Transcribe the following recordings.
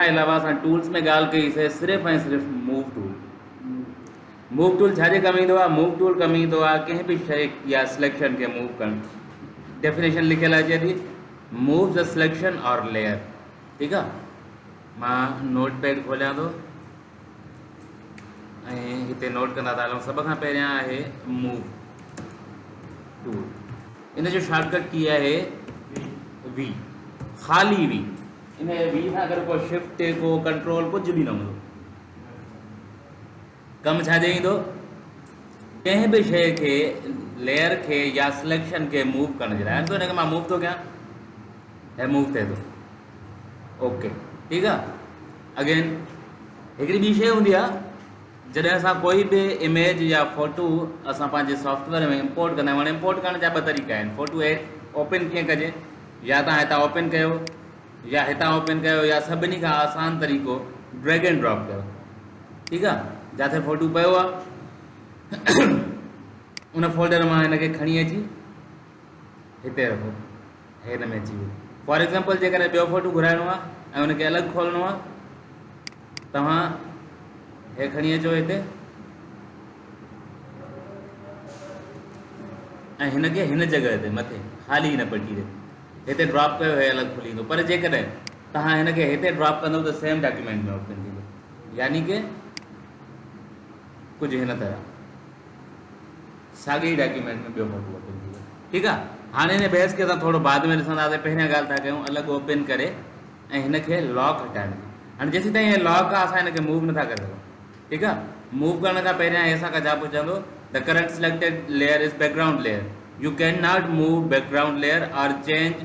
ان کان علاوه اسان ٽولز ۾ ڳالهه ڪئي سي صرف ۽ صرف موو ٽول موو ٽول ڇا جي ڪم ايندو آهي موو ٽول ڪم ايندو آهي ڪنهن به شيء يا سليڪشن کي موو ڪرڻ ڊيفينيشن لکيل اچي ٿي move the selection or layer ٺيڪ آهي مان نوٽ پيڊ کوليان ٿو ۽ هتي نوٽ ڪندا ته علم سڀ کان پهريان آهي موو ٽول ان جو شارٽ ڪٽ ڪي آهي وي خالي وي ان وي سان اگر ڪو شفٽ ڪو ڪنٽرول ڪجهه به نه هوندو ڪم ڇا جي ايندو ڪنهن به شيء کي ليئر کي يا سليڪشن کي موو ڪرڻ جي لاء ان کي مان موو ٿو ڪيان هي موو ٿئي ٿو اوڪي ٺيڪ آ اگين هڪڙي ٻي شيء هوندي آ جڏهن اسان ڪوئي به اميج يا فوٽو اسان پنهنجي سافٽويئر ۾ امپورٽ ڪندا آهيون امپورٽ ڪرڻ جا ٻه طريقا آهن فوٽو ايپ اوپن ڪيئن ڪجي يا تان هتان اوپن ڪيو يا هتان اوپن ڪيو يا سڀني کان آسان طريقو ڊريگ اينڊ ڊراپ ڪيو ٺيڪ آ جاٿي فوٽو پيو آ ان فولڊر مان هن کي کڻي اچي هتي رکو هي هن ۾ اچي ويو فار ايگزامپل جيڪڏهن ٻيو فوٽو گهرائڻو آهي ۽ ان کي الڳ کولڻو آهي توهان هي کڻي اچو هتي ۽ هن کي هن جڳهه تي مٿي خالي هن پٽي تي هتي ڊراپ ڪيو هي الڳ کلي ويندو پر جيڪڏهن توهان هن کي هتي ڊراپ ڪندو ته سيم ڊاڪيومينٽ ۾ اوپن ٿيندو يعني ڪه ڪجهه هن طرح ساڳي ئي ڊاڪيومينٽ ۾ ٻيو موقعو اوپن ٿي ويو ٺيڪ آ هاڻي هن بحث کي اسان ٿورو بعد ۾ ڏسنداسين پهريان ڳالهه ٿا ڪيون الڳ اوپن ڪري ۽ هن کي لاڪ هٽائڻ جي هاڻي جيسي تائين هي لاڪ آ اسان هن کي موو نٿا ڪري سگهون ٺيڪ آ موو ڪرڻ کان پهريان هي اسان کان ڇا پڇندو ته current selected layer is background layer you can not move background layer or change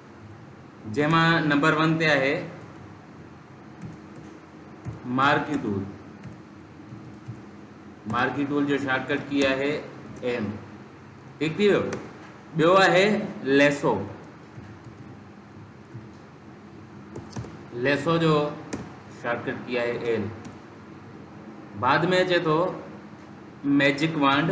جنهن مان نمبر ون تي آهي مارڪي ٽول مارڪي ٽول جو شارٽ ڪٽ ڪي آهي ايم ٺيڪ ٿي ويو ٻيو آهي ليسو ليسو جو شارٽ ڪٽ ڪي آهي ايل بعد ۾ اچي ٿو ميجڪ وانڊ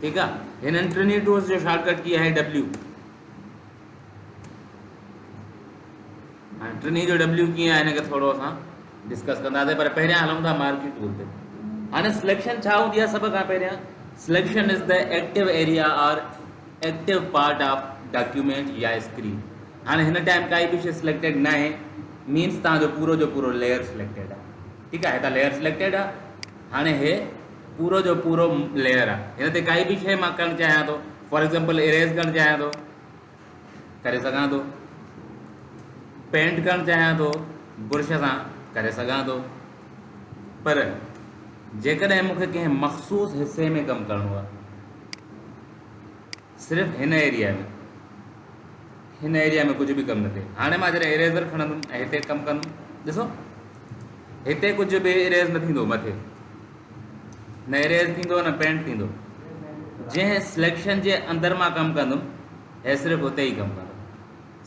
ٺيڪ آ هنن ٽنهي ٽولز جو شارٽ ڪٽ ڪي آهي ڊبليو هاڻي ٽنهي جو ڊبليو ڪي آهي هن کي ٿورو اسان ڊسڪس ڪنداسين پر پهريان هلون ٿا مارڪي ٽول تي هاڻي سليڪشن ڇا هوندي آهي سڀ کان پهريان selection is the active area or active part of document يا اسڪرين هاڻي هن ٽائم ڪائي به شي سليڪٽيڊ نه آهي مينس تان جو پورو جو پورو ليئر سليڪٽيڊ آهي ٺيڪ آهي هتان ليئر سليڪٽيڊ آهي هاڻي هي پورو جو پورو ليئر آ ان تي ڪائي به شئي مان ڪرڻ چاهيان ٿو فار ايگزامپل اريز ڪرڻ چاهيان ٿو ڪري سگهان ٿو پينٽ ڪرڻ چاهيان ٿو برش سان ڪري سگهان ٿو پر جيڪڏهن مونکي ڪنهن مخصوص حصي ۾ ڪم ڪرڻو آ صرف هن ايريا ۾ هن ايريا ۾ ڪجهه به ڪم نه ٿئي هاڻي مان جڏهن اريزر کڻندم ۽ هتي ڪم ڪندم ڏسو هتي ڪجهه به اريز نه ٿيندو مٿي نه اريز ٿيندو نه پينٽ ٿيندو جنهن سليڪشن جي اندر مان ڪم ڪندم هي صرف اتي ئي ڪم ڪندو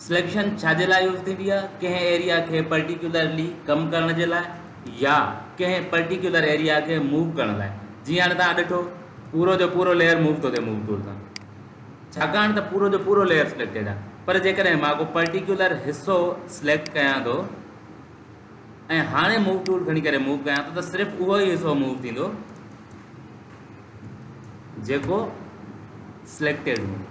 سليڪشن ڇا جي لاء يوز ٿيندي آهي؟ ڪنهن ايريا کي پرٽيڪيولرلي ڪم ڪرڻ جي لاء يا ڪنهن پرٽيڪيولر ايريا کي موو ڪرڻ لاء جيئن هاڻي توهان ڏٺو پورو جو پورو ليئر موو ٿو ٿئي موو ٽول سان ڇاڪاڻ ته پورو جو پورو ليئر سليڪٽيڊ آهي پر جيڪڏهن مان ڪو پرٽيڪيولر حصو سليڪٽ ڪيان ٿو ۽ هاڻي موو ٽول کڻي ڪري موو ڪيان ٿو ته صرف اهو ئي حصو موو ٿيندو جيڪو سليڪٽيڊ هوندو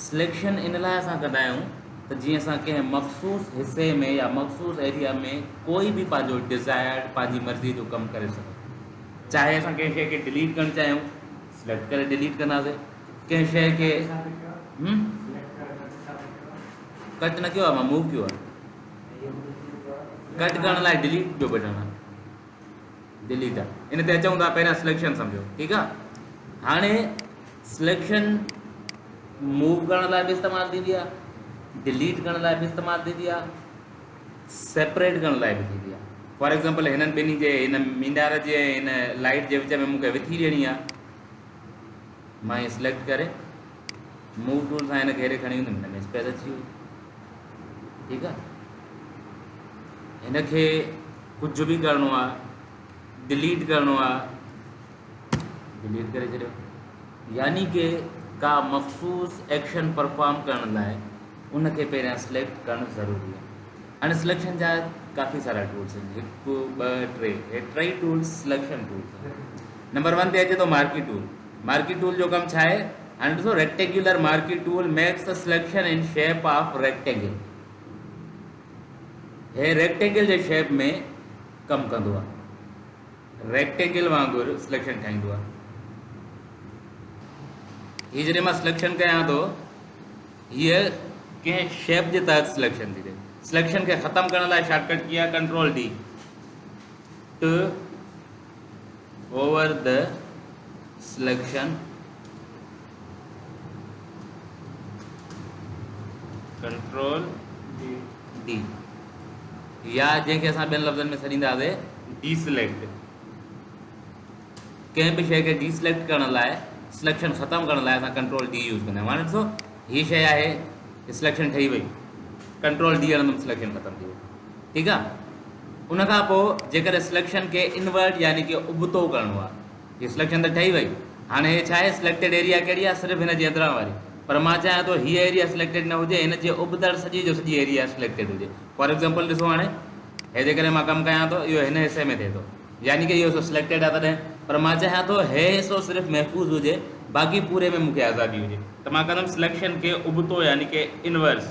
سليڪشن ان لاء اسان ڪندا آهيون ته جيئن اسان ڪنهن مخصوص حصي ۾ يا مخصوص ايريا ۾ ڪوئي به پنهنجو ڊزائرڊ پنهنجي مرضي جو ڪم ڪري سگهون چاهي اسان ڪنهن شيء کي ڊليٽ ڪرڻ چاهيون سليڪٽ ڪري ڊليٽ ڪنداسي ڪنهن شيء کي ڪٽ نه ڪيو آهي مان موو ڪيو آهي ڪٽ ڪرڻ لاء ڊليٽ جو بٽڻ آهي ڊيليٽ ان تي اچون ٿا پهريان سليڪشن سمجھو ٺيڪ آ هاڻي سليڪشن موو ڪرڻ لاء به استعمال ٿيندي آ ڊيليٽ ڪرڻ لاء به استعمال ٿيندي آ سيپريٽ ڪرڻ لاء به ٿيندي آ فار ایگزامپل هنن ٻنهي جي هن مينار جي هن لائيٽ جي وچ ۾ مونکي وٿي ڏيڻي آ مائي سليڪٽ ڪري موو ٽول سان هن کي هيڏي کڻي ويندم هن ۾ اسپيس اچي وئي ٺيڪ آ هن کي ڪجهه به ڪرڻو آ ڊليٽ ڪرڻو آ ڊليٽ ڪري ڇڏيو يعني ڪي ڪا مخصوص ايڪشن پرفارم ڪرڻ لاء ان کي پهريان سليڪٽ ڪرڻ ضروري آ هن سليڪشن جا ڪافي سارا ٽولس آهن هڪ ٻه ٽي هي ٽي tools selection tools number one تي اچي ٿو مارڪي ٽول مارڪي ٽول جو ڪم ڇا آهي؟ هاڻي ڏسو rectangular marquee tool makes the selection in shape of rectangle هي ريڪٽينگل جي شيپ ۾ ڪم ڪندو آهي ريڪٽينگل وانگر سليڪشن ٺاهيندو آهي هي جڏهن مان سليڪشن ڪيان ٿو هيء ڪنهن شيپ جي تحت سليڪشن ٿي ٿئي سليڪشن کي ختم ڪرڻ لاء شارٽ ڪٽ ڪي آهي ڪنٽرول ڊي ٽ over the selection control D يا جنهن کي اسان ٻين لفظن ۾ سڏينداسي ڊي سليڪٽ ڪنهن به شيء کي ڊي سليڪٽ ڪرڻ لاء سليڪشن ختم ڪرڻ لاء اسان ڪنٽرول ڊي يوز ڪندا آهيون هاڻي ڏسو هي شيء آهي سليڪشن ٺهي وئي ڪنٽرول ڊي هڻندم سليڪشن ختم ٿي وئي ٺيڪ آ ان کان پو جيڪڏهن سليڪشن کي انورٽ يعني ڪي ابتو ڪرڻو آ هي سليڪشن ته ٺهي وئي هاڻي هي ڇا آهي سليڪٽيڊ ايريا ڪهڙي آ صرف هن جي اندران واري پر مان چاهيان ٿو هيء ايريا سليڪٽيڊ نه هجي هن جي ابتڙ سڄي جو سڄي ايريا سليڪٽيڊ هجي فار ايگزامپل ڏسو هاڻي هي جيڪڏهن مان ڪم ڪيان ٿو اهو هن حصي ۾ ٿئي ٿو يعني ڪي اهو حصو سليڪٽيڊ آ تڏهن پر مان چاهيان ٿو هي حصو صرف محفوظ هجي باقي پوري ۾ مون کي آزادي هجي ته مان ڪندم سليڪشن کي ابتو يعني ڪي انورس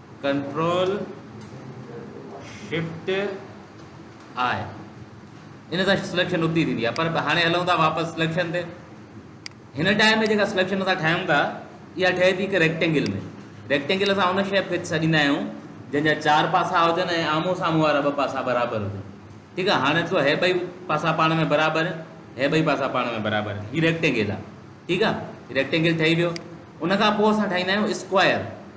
ڪنٽرول شفٽ آء ان سان سليڪشن ابتي ٿيندي آهي پر هاڻي هلون ٿا واپس سليڪشن تي هن ٽائم ۾ جيڪا سليڪشن اسان ٺاهيون ٿا اها ٺهي ٿي هڪ ريڪٽينگل ۾ ريڪٽينگل اسان ان شيپ کي سڏيندا آهيون جن جا چار پاسا هجن ۽ آمو سامو وارا ٻ پاسا برابر هجن ٺيڪ آ هاڻي ڏسو هي ٻئي پاسا پاڻ ۾ برابر هي ٻئي پاسا پاڻ ۾ برابر هي ريڪٽينگل آ ٺيڪ آ ريڪٽينگل ٺهي ويو ان کان پوء اسان ٺاهيندا آهيون اسڪوائر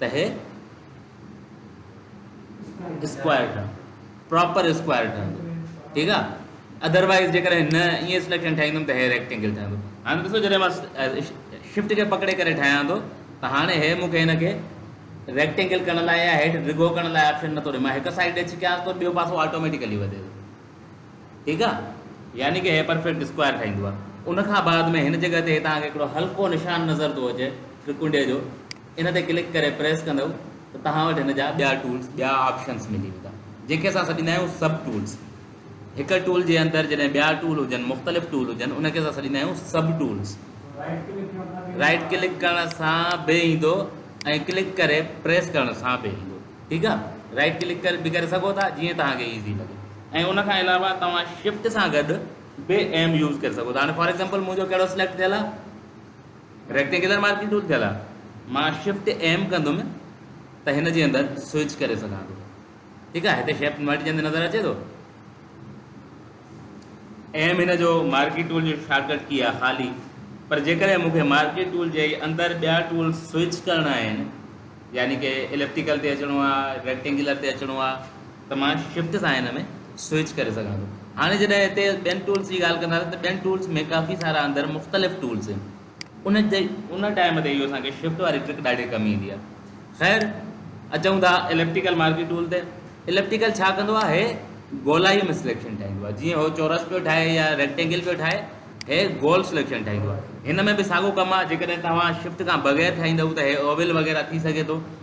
تهه اسڪوائر ٺهندو پراپر اسڪوائر ٺهندو ٺيڪ آ ادر وائز جيڪڏهن نه ائين سليڪشن ٺاهيندم ته هي ريڪٽينگل ٺهندو هاڻي ڏسو جڏهن مان شفٽ کي پڪڙي ڪري ٺاهيان ٿو ته هاڻي هي مونکي هن کي ريڪٽينگل ڪرڻ لاء يا هيٺ ڊگهو ڪرڻ لاء آپشن نٿو ڏي مان هڪ سائيڊ ڏي ڇڪيان ٿو ٻيو پاسو آٽوميٽيڪلي وڌي ٿو ٺيڪ آ يعني ڪي هي پرفيڪٽ اسڪوائر ٺاهيندو آ ان کان بعد ۾ هن جڳهه تي تهن کي هڪڙو هلڪو نشان نظر ٿو اچي ٽرڪنڊي جو ان تي ڪلڪ ڪري پريس ڪندؤ ته توهان وٽ هن جا ٻيا ٽولز، ٻيا آپشنز ملي ويندا جنهن کي اسان سڏيندا آهيون سب ٽولز. هڪ ٽول جي اندر جڏهن ٻيا ٽول هجن، مختلف ٽول هجن ان کي اسان سڏيندا آهيون سب ٽولز. رائيٽ ڪلڪ ڪرڻ سان به ايندو ۽ ڪلڪ ڪري پريس ڪرڻ سان به ايندو ٺيڪ آ. رائيٽ ڪلڪ ڪري به ڪري سگهو ٿا جيئن توهان کي ايزي لڳي ۽ ان کان علاوه توهان شفٽ سان گڏ به ايم يوز ڪري سگهو ٿا هاڻي فار ايگزامپل منهنجو ڪهڙو سليڪٽ ٿيل آ. ريڪٽينگيولر مارڪنگ ٽول ٿيل آهي مان شفٽ ايم ڪندم ته هن جي اندر سوئچ ڪري سگهان ٿو ٺيڪ آهي هتي شيپ ملٽي جنهن نظر اچي ٿو ايم هن جو مارڪي ٽول جو شارٽ ڪٽ ڪي آهي خالي پر جيڪڏهن مون کي مارڪي ٽول جي اندر ٻيا ٽول سوئچ ڪرڻا آهن يعني ڪي اليپٽيڪل تي اچڻو آهي ريڪٽينگيولر تي اچڻو آهي ته مان شفٽ سان هن ۾ سوئچ ڪري سگهان ٿو هاڻي جڏهن هتي ٻين ٽولس جي ڳالهه ڪنداسين ته ٻين ٽولس ۾ ڪافي سارا اندر مختلف ٽولس آهن ان جي ان ٽائيم تي اهو اسان کي شفٽ واري ٽرڪ ڏاڍي ڪم ايندي آهي خير اچون ٿا اليپٽيڪل مارڪي ٽول تي اليپٽيڪل ڇا ڪندو آهي هي گولائي ۾ سليڪشن ٺاهيندو آهي جيئن هو چورس پيو ٺاهي يا ريڪٽينگل پيو ٺاهي هي گول سليڪشن ٺاهيندو آهي هن ۾ به ساڳو ڪم آهي جيڪڏهن توهان شفٽ کان بغير ٺاهيندو ته هي اوول وغيره ٿي سگهي ٿو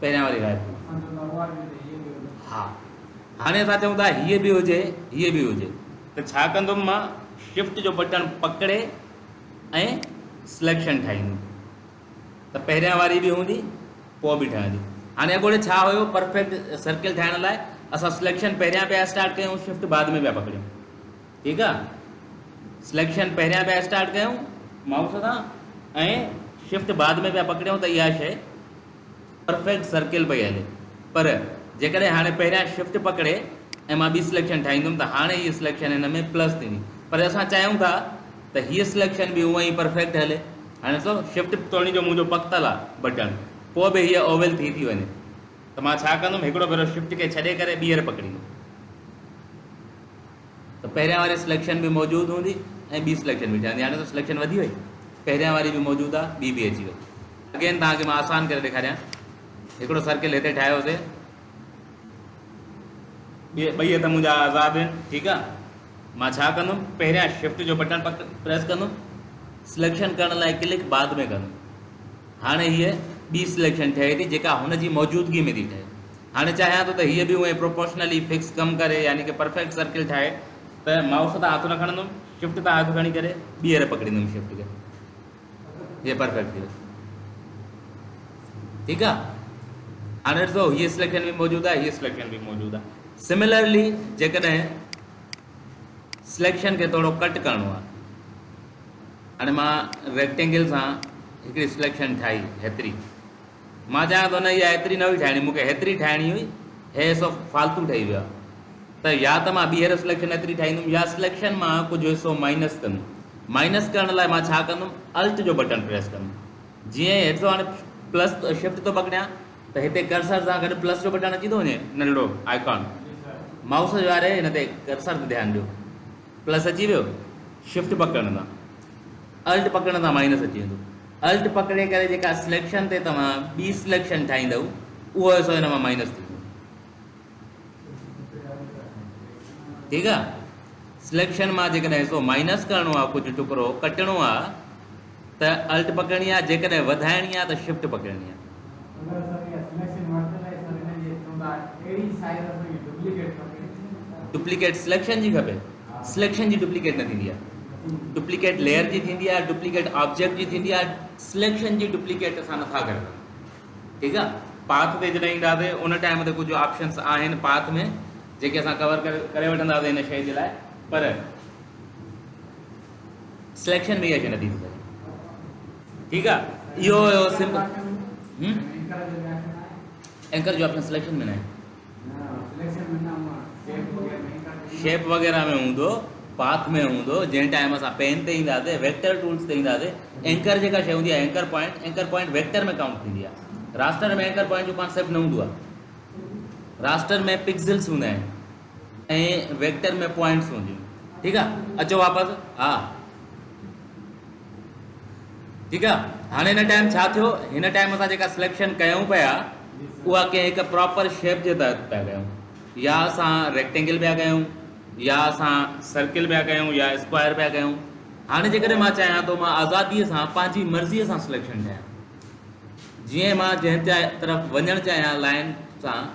پهريان واري رائيپور ها هاڻي اسان چون ٿا هيء به هجي هيء به هجي ته ڇا ڪندم مان شفٽ جو بٽڻ پڪڙي ۽ سليڪشن ٺاهيندم ته پهريان واري به هوندي پوء به ٺهندي هاڻي اڳوڻي ڇا هيو پرفيڪٽ سرڪل ٺاهڻ لاء اسان سليڪشن پهريان پيا اسٽارٽ ڪيون شفٽ بعد ۾ پيا پڪڙيون ٺيڪ آ سليڪشن پهريان پيا اسٽارٽ ڪيون مائوس سان ۽ شفٽ بعد ۾ پيا پڪڙيون ته اها شي پرفيڪٽ سرڪل پئي هلي پر جيڪڏهن هاڻي پهريان شفٽ پڪڙي ۽ مان ٻي سليڪشن ٺاهيندم ته هاڻي هي سليڪشن هن ۾ پلس ٿيندي پر اسان چاهيون ٿا ته هيء سليڪشن به اونئن ئي پرفيڪٽ هلي هاڻي ڏسو شفٽ توڻي جو منهنجو پڪتل آ بٽڻ پوء به هيء اوول ٿي ٿي وڃي ته مان ڇا ڪندم هڪڙو ڀيرو شفٽ کي ڇڏي ڪري ٻيهر پڪڙيندم ته پهريان واري سليڪشن به موجود هوندي ۽ ٻي سليڪشن به ٺهندي هاڻي ته سليڪشن وڌي وئي پهريان واري به موجود آ ٻي به اچي وئي اگين توهان کي مان آسان ڪري ڏيکاريان هڪڙو سرڪل هتي ٺاهيو سي ٻئي هٿ منهنجا آزاد آهن ٺيڪ آ مان ڇا ڪندم پهريان شفٽ جو بٽن پڪ پريس ڪندم سليڪشن ڪرڻ لاء ڪلڪ بعد ۾ ڪندم هاڻي هيء ٻي سليڪشن ٺهي ٿي جيڪا هن جي موجودگي ۾ ٿي ٺهي هاڻي چاهيان ٿو ته هيء به اونهي پروپورشنلي فڪس ڪم ڪري يعني ڪي پرفيڪٽ سرڪل ٺاهي ته مائوس تان هٿ نه کڻندم شفٽ تان هٿ کڻي ڪري ٻيهر پڪڙيندم شفٽ کي هيء پرفيڪٽ ٿي ويو ٺيڪ آ هاڻي ڏسو هيء سليڪشن به موجود آ هيء سليڪشن به موجود آ سملرلي جيڪڏهن سليڪشن کي ٿورو ڪٽ ڪرڻو آ هاڻي مان ريڪٽينگل سان هڪڙي سليڪشن ٺاهي هيتري مان چاهيان ٿو نه اها ايتري نه هئي ٺاهڻي مون کي هيتري ٺاهڻي هئي هي حصو فالتو ٺهي ويو آهي ته يا ته مان ٻيهر سليڪشن ايتري ٺاهيندم يا سليڪشن مان ڪجهه حصو مائنس ڪندم مائنس ڪرڻ لاء مان ڇا ڪندم الٽ جو بٽڻ پريس ڪندم جيئن ئي هيٺ هاڻي پلس شفٽ ٿو پڪڙيان ته هتي ڪرسر سان گڏ پلس جو بٽڻ اچي ٿو وڃي ننڍڙو آئڪان مائوس واري هن تي ڪرسر تي ڌيان ڏيو پلس اچي ويو شفٽ پڪڙڻ سان الٽ پڪڙڻ سان مائنس اچي ويندو Alt پڪڙي ڪري جيڪا سليڪشن تي توهان ٻي سليڪشن ٺاهيندؤ اهو حصو هن مان مائنس ٿيندو ٺيڪ آ سليڪشن مان جيڪڏهن حصو مائنس ڪرڻو آ ڪجهه ٽڪرو ڪٽڻو آ ته Alt پڪڙڻي آ جيڪڏهن وڌائڻي آ ته شفٽ پڪڙڻي آ ڊپليڪيٽ سليڪشن جي کپي سليڪشن جي ڊپليڪيٽ نه ٿيندي آهي ڊپليڪيٽ ليئر جي ٿيندي آهي ڊپليڪيٽ آبجيڪٽ جي ٿيندي آهي سليڪشن جي ڊپليڪيٽ اسان نٿا ڪري سگھون ٺيڪ آهي پاٿ تي جڏهن اينداسي ان ٽائم تي ڪجهه آپشنس آهن پاٿ ۾ جيڪي اسان ڪور ڪري وٺنداسي هن شيء جي لاء پر سليڪشن ۾ اها شيء نه ٿي ٿي سگهي ٺيڪ آ اهو هيو سمپل اينڪر جو آپشن سليڪشن ۾ نه آهي شيپ وغيرہ ۾ هوندو پاٿ ۾ هوندو جنهن ٽائم اسان پين تي اينداسي ويڪٽر ٽولس تي اينداسي اينڪر جيڪا شيء هوندي آهي anchor point anchor point vector ۾ count ٿيندي آهي راسٽر ۾ اينڪر پوائنٽ جو ڪانسيپٽ نه هوندو آهي راسٽر ۾ پڪسلس هوندا آهن ۽ ويڪٽر ۾ پوائنٽس هونديون ٺيڪ آ اچو واپس ها ٺيڪ آ هاڻي هن ٽائم ڇا ٿيو هن ٽائم اسان جيڪا سليڪشن ڪيون پيا اها ڪنهن هڪ پراپر شيپ جي تحت پيا ڪيون يا اسان ريڪٽينگل پيا ڪيون يا اسان سرڪل پيا ڪيون يا اسڪوائر پيا ڪيون هاڻي جيڪڏهن مان چاهيان ٿو مان آزادي سان پنهنجي مرضي سان سليڪشن ڪيان جيئن مان جنهن طرف وڃڻ چاهيان لائن سان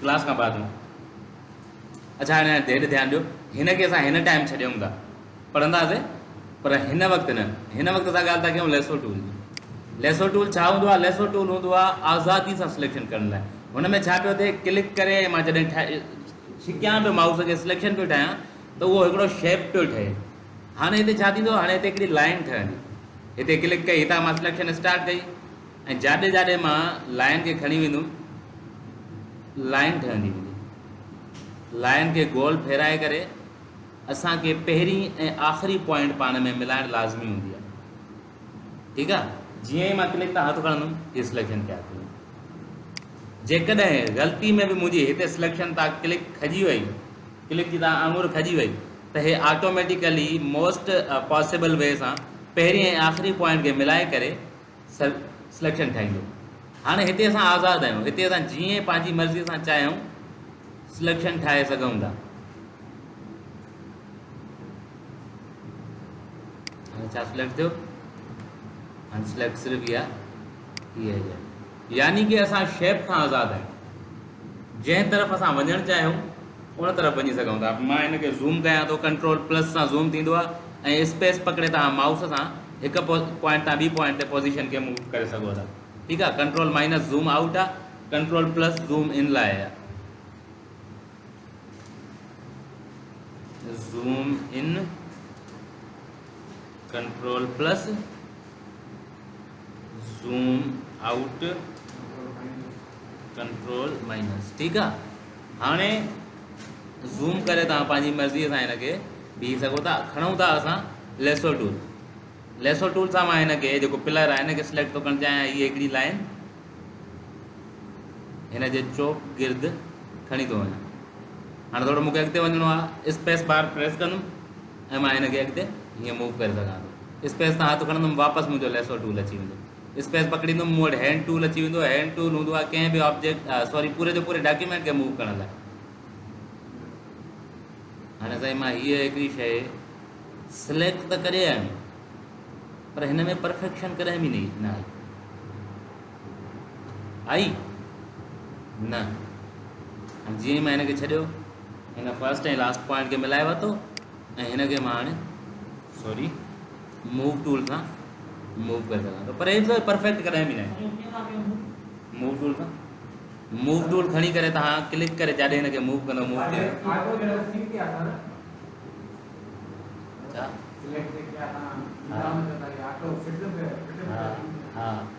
ڪلاس کان بعد ۾ اچا هاڻي ڌيٽ ڌيان ڏيو هن کي اسان هن ٽائيم ڇڏيون ٿا پڙهنداسين پر هن وقت نه هن وقت اسان ڳالهه ٿا ڪيون ليسو ٽول جي ليسو ٽول ڇا هوندو آهي ليسو ٽول هوندو آهي آزادي سان سليڪشن ڪرڻ لاء هن ۾ ڇا پيو ٿئي ڪلڪ ڪري مان جڏهن ٺاهي ڇڪيان پيو مائوس کي سليڪشن پيو ٺاهيان ته اهو هڪڙو شيپ پيو ٺهي هاڻي هتي ڇا ٿيندو هاڻي هتي هڪڙي لائين ٺهندي هتي ڪلڪ ڪئي هتان مان سليڪشن اسٽارٽ ڪئي ۽ جاڏي جاڏي مان لائين کي کڻي ويندم لائين ٺهندي ويندي لائين کي گول ڦيرائي ڪري اسان کي پهرين ۽ آخري پوائنٽ پاڻ ۾ ملائڻ لازمي هوندي آهي ٺيڪ آهي جيئن ئي مان ڪلڪ تان هٿ کڻندم هي سليڪشن تيار ٿي ويندي جيڪڏهن غلطي ۾ به منهنجي هتي سليڪشن تان ڪلڪ کڄي وئي ڪلڪ جي تان آڱر کڄي وئي ته هي آٽوميٽيڪلي موسٽ پاسيبل وي سان پهرين ۽ آخري پوائنٽ کي ملائي ڪري سليڪشن ٺاهيندو. هاڻي هتي اسان آزاد آهيون، هتي اسان جيئن پنهنجي مرضي سان چاهيون سليڪشن ٺاهي سگهون ٿا. هاڻي ڇا سليڪٽ ٿيو؟ هاڻي سليڪٽ صرف اها هي. يعني ڪه اسان شيپ کان آزاد آهيون. جنهن طرف اسان وڃڻ چاهيون ان طرف وڃي سگهون ٿا. مان هن کي زوم ڪيان ٿو ڪنٽرول پلس سان زوم ٿيندو آهي ۽ اسپيس پڪڙي توهان مائوس سان هڪ پوائنٽ تان ٻي پوائنٽ تي پوزيشن کي موو ڪري سگهو ٿا ٺيڪ آهي ڪنٽرول مائنس زوم آئوٽ آهي ڪنٽرول پلس زوم ان لاء آهي zoom in control plus zoom out control minus ٺيڪ آ هاڻي زوم ڪري تان پنهنجي مرضي سان هن کي بيهي سگهو ٿا کڻون ٿا اسان ليسو ٽول ليسو ٽول سان مان هن کي جيڪو پلر آهي هن کي سليڪٽ ٿو ڪرڻ چاهيان هي هڪڙي لائن هن جي چوڪ گرد کڻي ٿو وڃان هاڻي ٿورو مونکي اڳتي وڃڻو آهي اسپيس بار پريس ڪندم ۽ مان هن کي اڳتي هيئن موو ڪري سگهان ٿو. اسپيس تان هٿ کڻندم واپس منهنجو ليسو ٽول اچي ويندو. اسپيس پڪڙيندم مون وٽ هينڊ ٽول اچي ويندو. هينڊ ٽول هوندو آهي ڪنهن به آبجيڪٽ سوري پوري جو پوري ڊاڪيومينٽ کي موو ڪرڻ لاء. هاڻي سائين مان هيء هڪڙي شيء سليڪٽ ته ڪري آيم پر هن ۾ پرفيڪشن ڪڏهن به نه آئي. آئي نه هاڻي جيئن ئي مان هن کي ڇڏيو هن فرسٽ ۽ لاسٽ پوائنٽ کي ملائي ورتو ۽ هن کي مان هاڻي سوري موو ٽول کان موو ڪري سگھان ٿو پر ايترو پرفيڪٽ ڪڏهن به نه موو ٽول کان موو ٽول کڻي ڪري تان ڪلڪ ڪري جڏهن هن کي موو ڪندو موو ٿي ويندو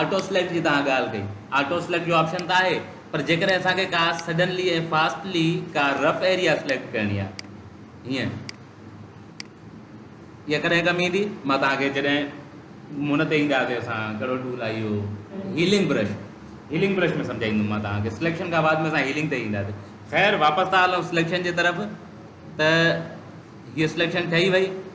آٽو سليڪٽ جي توهان ڳالهه ڪئي آٽو سليڪٽ جو آپشن ته آهي پر جيڪڏهن اسان کي ڪا سڊنلي ۽ فاسٽلي ڪا رف ايريا سليڪٽ ڪرڻي آهي هيئن اها ڪڏهن ڪم ايندي مان توهان کي جڏهن مون تي اينداسي اسان ڪهڙو ٽول آهي اهو هيلنگ برش هيلنگ برش ۾ سمجھائيندم مان توهان کي سليڪشن کان بعد ۾ اسان هيلنگ تي اينداسي خير واپس ٿا هلون سليڪشن جي طرف ته هيء سليڪشن ٺهي وئي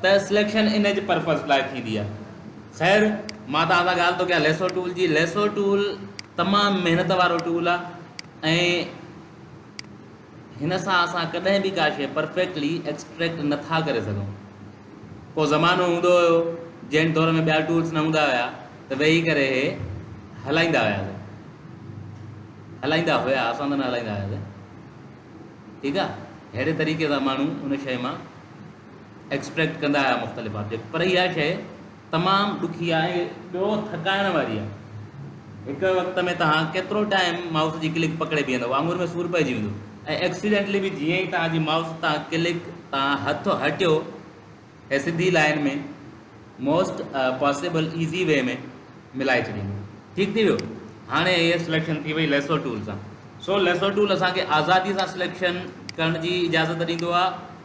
ته سليڪشن ان جي پرپز لاء ٿيندي آهي. خير مان توهان سان ڳالهه ٿو ڪيان ليسو ٽول جي. ليسو ٽول تمام محنت وارو ٽول آهي ۽ هن سان اسان ڪڏهن به ڪا شيء پرفيڪٽلي ايڪسٽريڪٽ نه ٿا ڪري سگهون. ڪو زمانو هوندو هيو جنهن دور ۾ ٻيا ٽولز نه هوندا هيا ته ويهي ڪري هي هلائيندا هياسين. هلائيندا هيا اسان ته نه هلائيندا هياسين ٺيڪ آهي. ههڙي طريقي سان ماڻهو ان شيء مان ايڪسٽريڪٽ ڪندا آهيو مختلف آبجيڪٽ پر اها شيء تمام ڏکي آهي ۽ ٻيو ٿڪائڻ واري آهي هڪ وقت ۾ توهان ڪيترو ٽائيم مائوس جي ڪلڪ پڪڙي بيهندو آڱر ۾ سور پئجي ويندو ۽ ايڪسيڊنٽلي به جيئن ئي توهان جي مائوس تان ڪلڪ تان هٿ هٽيو هي سڌي line ۾ most possible easy way ۾ ملائي ڇڏيندو ٺيڪ ٿي ويو هاڻي هي سليڪشن ٿي وئي ليسو ٽول سان سو ليسو ٽول اسان کي آزادي سان سليڪشن ڪرڻ جي اجازت ڏيندو آهي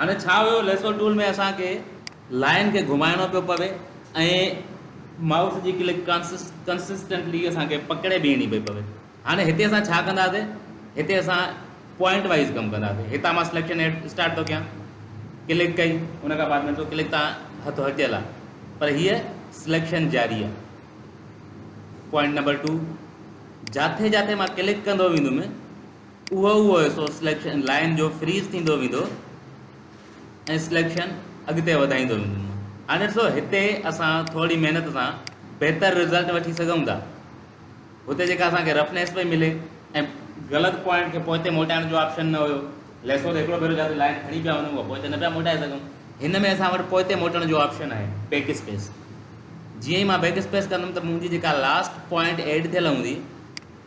هاڻي ڇا هيو ليسو ٽول ۾ اسان کي لائن کي گهمائڻو پيو پوي ۽ مائوس جي ڪلڪ ڪنسسٽنٽلي اسان کي پڪڙي بيهڻي پئي پوي هاڻي هتي اسان ڇا ڪنداسي هتي اسان پوائنٽ وائز ڪم ڪنداسي هتان مان سليڪشن ايڊ اسٽارٽ ٿو ڪيان ڪلڪ ڪئي ان کان بعد ۾ ڏسو ڪلڪ تان هٿ هٽيل آ پر هي سليڪشن جاري آ پوائنٽ نمبر 2 جاٿي جاٿي مان ڪلڪ ڪندو ويندم اهو اهو حصو سليڪشن لائين جو فريز ٿيندو ويندو ۽ سليڪشن اڳتي وڌائيندو ويندو. هاڻي ڏسو هتي اسان ٿورڙي محنت سان بهتر رزلٽ وٺي سگهون ٿا. هتي جيڪا اسان کي رفنيس پئي ملي ۽ غلط پوائنٽ کي پوئتي موٽائڻ جو آپشن نه هيو. ليسو ته هڪڙو ڀيرو جياسين لائين کڻي پيا وڃون اها پوئتي نه پيا موٽائي سگهون. هن ۾ اسان وٽ پوئتي موٽڻ جو آپشن آهي بيڪ اسپيس. جيئن ئي مان بيڪ اسپيس ڪندم ته منهنجي جيڪا لاسٽ پوائنٽ ايڊ ٿيل هوندي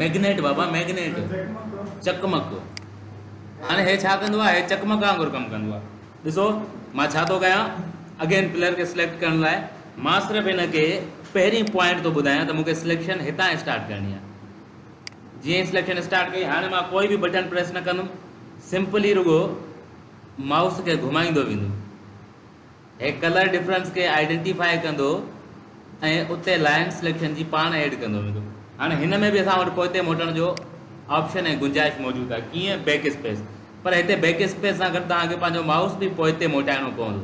ميگنيٽ بابا ميگنيٽ چڪمڪ هاڻي هي ڇا ڪندو آهي هي چڪمڪ وانگر ڪم ڪندو آهي ڏسو مان ڇا ٿو ڪيان اگين پلر کي سليڪٽ ڪرڻ لاء مان صرف هن کي پهرين پوائنٽ ٿو ٻڌايان ته مونکي سليڪشن هتان اسٽارٽ ڪرڻي آهي جيئن ئي سليڪشن اسٽارٽ ڪئي هاڻي مان ڪوئي به بٽن پريس نه ڪندم سمپلي رڳو مائوس کي گهمائيندو ويندم هي ڪلر ڊفرنس کي آئيڊينٽيفاء ڪندو ۽ اتي لائن سليڪشن جي پاڻ ايڊ ڪندو ويندو. هاڻي هن ۾ به اسان وٽ پوئتي موٽڻ جو آپشن ۽ گنجائش موجود آهي ڪيئن بيڪ اسپيس پر هتي بيڪ اسپيس سان گڏ توهان کي پنهنجو مائوس به پوئتي موٽائڻو پوندو.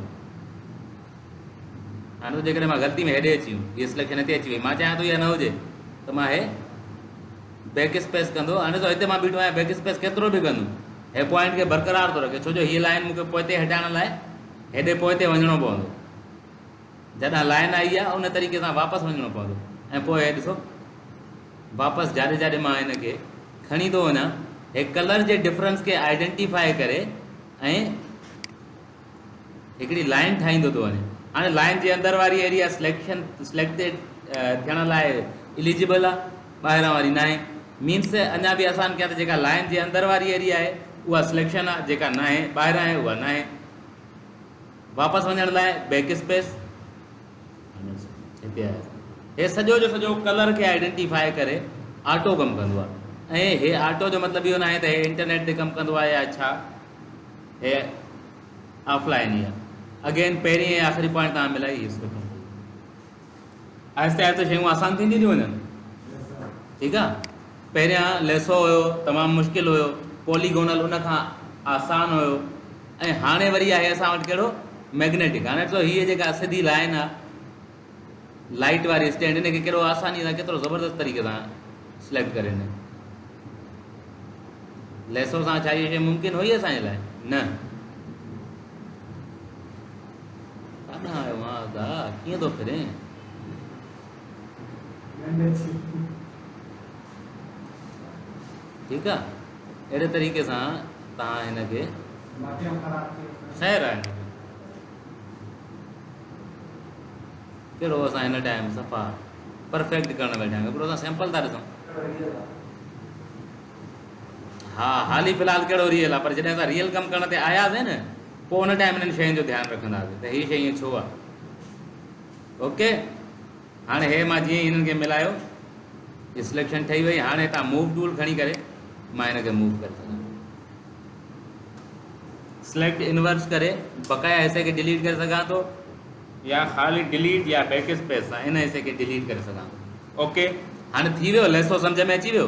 هاڻي ته جيڪڏهن مان غلطي ۾ هيڏي اچي ويم هي سليڪشن هتي اچي وئي مان چاهيان ٿو اها نه هجي ته مان هي بيڪ اسپيس ڪندو هاڻي ته هتي مان بيٺو آهيان بيڪ اسپيس ڪيترو به ڪندم هي پوائنٽ کي برقرار ٿو رکي ڇو جو هي لائن مون کي پوئتي هٽائڻ لاء هيڏي پوئتي وڃڻو پوندو. جڏهن لائن آئي آهي ان طريقي سان واپس وڃڻو پوندو ۽ پوء هي ڏسو واپس جاڏي جاڏي مان هن کي کڻي ٿو وڃان هي ڪلر جي ڊفرنس کي آئيڊنٽيفائي ڪري ۽ هڪڙي لائن ٺاهيندو ٿو وڃي هاڻي لائن جي اندر واري ايريا سليڪشن سليڪٽيڊ ٿيڻ لاء اليجبل آهي ٻاهران واري ناهي مينس اڃا به آسان ڪيان ته جيڪا لائن جي اندر واري ايريا آهي اها سليڪشن آهي جيڪا ناهي ٻاهران آهي اها ناهي واپس وڃڻ لاء بيڪ اسپيس هتي آهي هي سڄو جو سڄو ڪلر کي آئيڊينٽيفائي ڪري آٽو ڪم ڪندو آ ۽ هي آٽو جو مطلب اهو ناهي ته هي انٽرنيٽ تي ڪم ڪندو آ يا ڇا هي آف لائن ئي آ اگين پهرين ۽ آخري پوائنٽ تان ملائي هي سکو آهستي آهستي شيون آسان ٿينديون ٿيون وڃن ٺيڪ آ پهريان ليسو هيو تمام مشڪل هيو پوليگونل ان کان آسان هيو ۽ هاڻي وري آهي اسان وٽ ڪهڙو ميگنيٽڪ هاڻي ڏسو هيء جيڪا سڌي لائن آ لائٽ واري اسٽينڊ ان کي ڪهڙو آساني سان ڪيترو زبردست طريقي سان سليڪٽ ڪري ڏني ليسو سان ڇا هيء شيء ممڪن هئي اسان جي لاء نه ڪاڏانهن آيو آن ادا، ڪيئن ٿو ڦرين؟ ٺيڪ آ اهڙي طريقي سان تان هن کي خير آهي ڪهڙو اسان هن ٽائم صفا پرفيڪٽ ڪرڻ ويٺا آهيون هڪڙو اسان سيمپل ٿا ڏسون ها حالي في الحال ڪهڙو ريئل آ پر جڏهن اسان ريئل ڪم ڪرڻ تي آياسين نه پوء ان ٽائيم انهن شين جو ڌيان رکنداسين ته هي شي ائين ڇو آ اوڪي هاڻي هي مان جيئن هنن کي ملايو هي سليڪشن ٺهي وئي هاڻي هتان موو ٽول کڻي ڪري مان هن کي موو ڪري سگهان سليڪٽ انورس ڪري بقايا حصي کي ڊيليٽ ڪري سگهان ٿو يا خالي ڊيليٽ يا بيڪ اسپيس سان ان حصي کي ڊيليٽ ڪري سگهان ٿو اوڪي هاڻي ٿي ويو ليسو سمجھ ۾ اچي ويو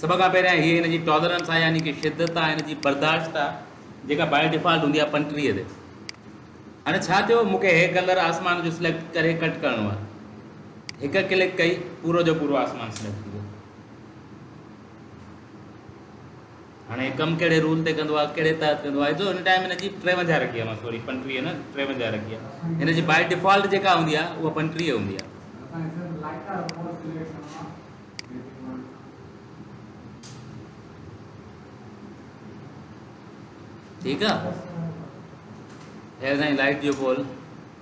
سڀ کان پهريان هيء هن جي ٽالرنس آهي يعني ڪي شدت آهي هن جي برداشت آهي جيڪا بائي ڊيفالٽ هوندي آهي پنٽريء تي. هاڻي ڇا ٿيو مون کي هي ڪلر آسمان جو سليڪٽ ڪري ڪٽ ڪرڻو آهي. هڪ ڪلڪ ڪئي پورو جو پورو آسمان سليڪٽ ٿي ويو. هاڻي هي ڪم ڪهڙي رول تي ڪندو آهي ڪهڙي تحت ڪندو آهي جو هن ٽائم هن جي ٽيونجاهه رکي آهي سوري پنٽريء نه ٽيونجاهه رکي آهي هن جي بائي ڊيفالٽ جيڪا هوندي آهي اها پنٽريء هوندي آهي. ٺيڪ آ هير سائين لائٽ جو پول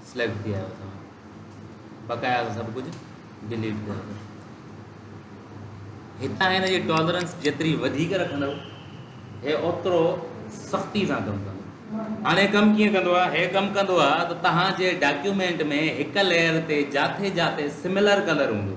سليڪٽ ٿي آيو اسان بقايا سڀ ڪجهه ڊيليٽ ڪيو هتان هن جي ٽالرنس جيتري وڌيڪ رکندو هي اوترو سختي سان ڪم ڪندو هاڻي ڪم ڪيئن ڪندو آ هي ڪم ڪندو آ ته توهان جي ڊاڪيومينٽ ۾ هڪ ليئر تي جاٿي جاٿي سميلر ڪلر هوندو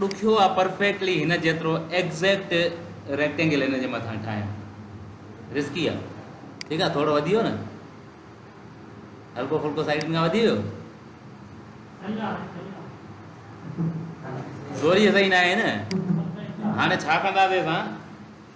ڏکيو آ پرفيڪٽلي هن جيترو ايگزيڪٽ ريڪٽينگل هن جي مٿان ٺاهيان رسڪي آ ٺيڪ آ ٿورو وڌي ويو نه هلڪو ڦلڪو سائيڊن کان وڌي ويو زوري صحيح نه آهي نه هاڻي ڇا ڪنداسي اسان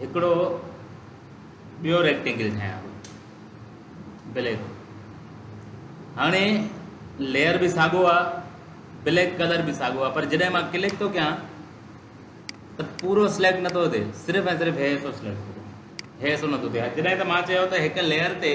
هڪڙو ٻيو ريڪٽينگل ٺاهيان ٿو بليڪ هاڻي ليئر به ساڳو آ بليڪ ڪلر به ساڳو آ پر جڏهن مان ڪلڪ ٿو ڪيان ته پورو سليڪٽ نٿو ٿئي صرف ۽ صرف هي حصو سليڪٽ ٿو هي حصو نٿو ٿئي جڏهن ته مان چيو ته هڪ ليئر تي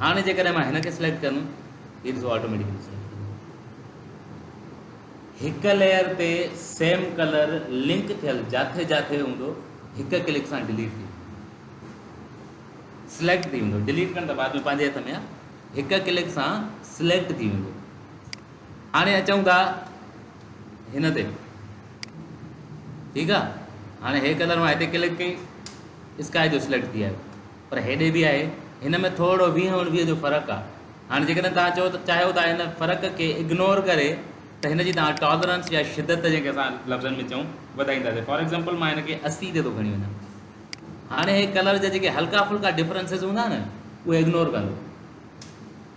هاڻي جيڪڏهن مان هن کي سليڪٽ ڪندم هي ڏسو آٽوميٽڪلي سليڪٽ هڪ ليئر تي سيم ڪلر لنڪ ٿيل جاٿي جاٿي هوندو هڪ ڪلڪ سان ڊيليٽ ٿي سليڪٽ ٿي ويندو ڊيليٽ ڪرڻ ته بعد ۾ پنهنجي هٿ ۾ آهي هڪ ڪلڪ سان سليڪٽ ٿي ويندو هاڻي اچون ٿا هن تي ٺيڪ آهي هاڻي هي ڪلر مان هتي ڪلڪ ڪئي اسڪائي جو سليڪٽ ٿي آيو پر هيڏي به آهي هن ۾ ٿورڙو ويهه اڻويهه جو فرق آ هاڻي جيڪڏهن توهان چئو ته چاهيو ٿا هن فرق کي اگنور ڪري ته هن جي توهان ٽالرنس يا شدت جنهن کي اسان لفظن ۾ چئون وڌائينداسين فار ايگزامپل مان هن کي اسي تي ٿو کڻي وڃان هاڻي هي ڪلر جا جيڪي هلڪا ڦلڪا ڊفرنسز هوندا نه اهي اگنور ڪندو.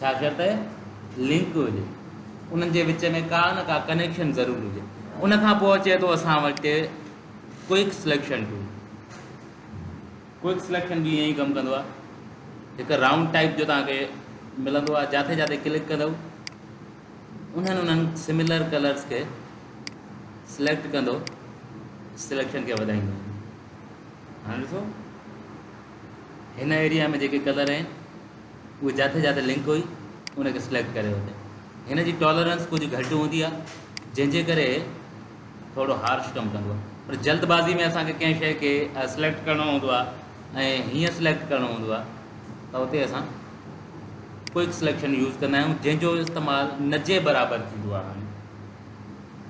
ڇاڪاڻ ته لنڪ هجي انهن جي وچ ۾ ڪا نه ڪا ڪنيڪشن ضرور هجي ان کان پوء اچي ٿو اسان وٽ quick selection tool quick selection به ائين ڪم ڪندو آهي هڪ رائونڊ ٽائپ جو تان کي ملندو آهي جاٿي جاٿي ڪلڪ ڪندو انهن انهن سميلر ڪلرس کي سليڪٽ ڪندو سليڪشن کي وڌائيندو هاڻ ڏسو هن ايريا ۾ جيڪي ڪلر آهن اهي جاٿي جاٿي لنڪ هئي ان کي سليڪٽ ڪري وٺي هن جي ٽالرنس ڪجهه گهٽ هوندي آهي جنهن جي ڪري ٿورو هارش ڪم ڪندو آهي پر جلد بازي ۾ اسانکي ڪنهن شيء کي سليڪٽ ڪرڻو هوندو آهي ۽ هيئن سليڪٽ ڪرڻو هوندو آهي ته اتي اسان ڪوئڪ سليڪشن يوز ڪندا آهيون جنهن جو استعمال نجي برابر ٿيندو آهي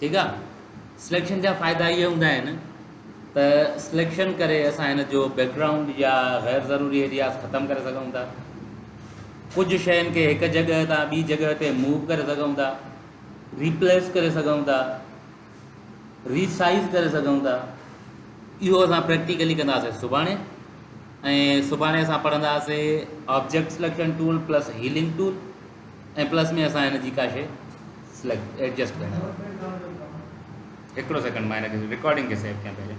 ٺيڪ آ سليڪشن جا فائدا اهي هوندا آهن ته سليڪشن ڪري اسان هن جو بيڪ گرائونڊ يا غير ضروري ايرياز ختم ڪري سگهون ٿا ڪجهه شين کي هڪ جڳهه تان ٻي جڳهه تي موو ڪري سگهون ٿا ريپليس ڪري سگهون ٿا ريسائز ڪري سگهون ٿا اهو اسان پريڪٽيڪلي ڪنداسي سڀاڻي ۽ سڀاڻي اسان پڙهنداسي object selection tool plus healing tool ۽ plus ۾ اسان هن جي ڪا شي سليڪٽ ايڊجسٽ ڪرڻ هڪڙو سيڪنڊ مان هن کي رڪارڊنگ کي سيو ڪيان پهرين.